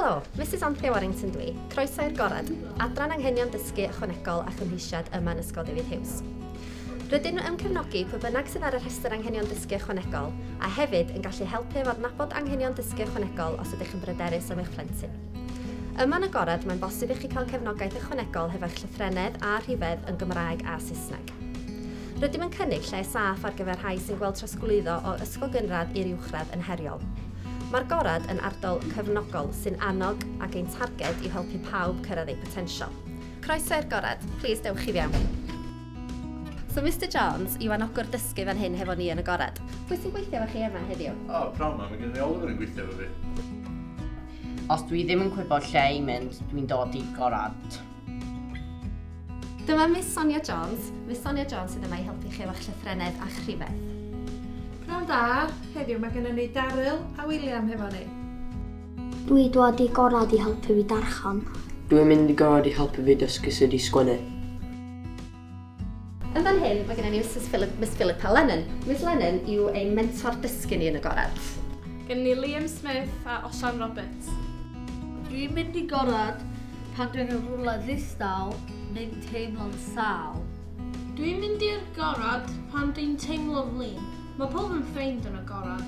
Helo, Misus Anthea Warrington dwi. Croeso i'r Gorad, Adran Anghenion Dysgu Ychwanegol a Chymheisiad yma yn Ysgol David Hughes. Rydyn nhw yn cefnogi pwy bynnag sydd ar y rhestr Anghenion Dysgu Ychwanegol a hefyd yn gallu helpu efo adnabod anghenion dysgu ychwanegol os ydych yn bryderus am eich plentyn. Yma yn y Gorad mae'n bosib i chi cael cefnogaeth ychwanegol hefo'ch llythrennedd a rhifedd yn Gymraeg a Saesneg. Rydym yn cynnig lle saff ar gyfer rhai sy'n gweld trosglwyddo o ysgol gynradd i'r uwchradd yn heriol. Mae'r Gorad yn ardal cefnogol sy'n annog ac ein targed yw helpu pawb cyrraedd eu potensial. Croeso i'r Gorad, plis dewch i fewn. So Mister Jones yw anogwr dysgu fan hyn hefo ni yn y Gorad. Pwy sy'n gweithio efo chi yma heddiw? O, pnawn 'ma, mae gennym ni Oliver yn gweithio efo fi. Os dwi ddim yn gwybod lle i mynd, dwi'n dod i'r Gorad. Dyma Miss Sonia Jones. Miss Sonia Jones sydd yma i helpu chi efo'ch llythrennedd a'ch rhifedd. Pnawn da, heddiw mae gennym ni Daryl a William hefo ni. Dwi dod i gorau di helpu fi darchan. Dwi'n mynd i gorau di helpu fi dysgu sut i sgwennu. Yn fan hyn, mae gennym ni Misus Philip, Miss Philippa Lennon. Miss Lennon yw ein mentor dysgu ni yn y gorad. Gennym ni Liam Smith a Osian Roberts. Dwi'n mynd i gorad pan dwi'n yn rhywle ddistaw neu'n teimlo'n sâl. Dwi'n mynd i'r gorad pan dwi'n teimlo flin. Mae pawb yn ffeind yn y gorad.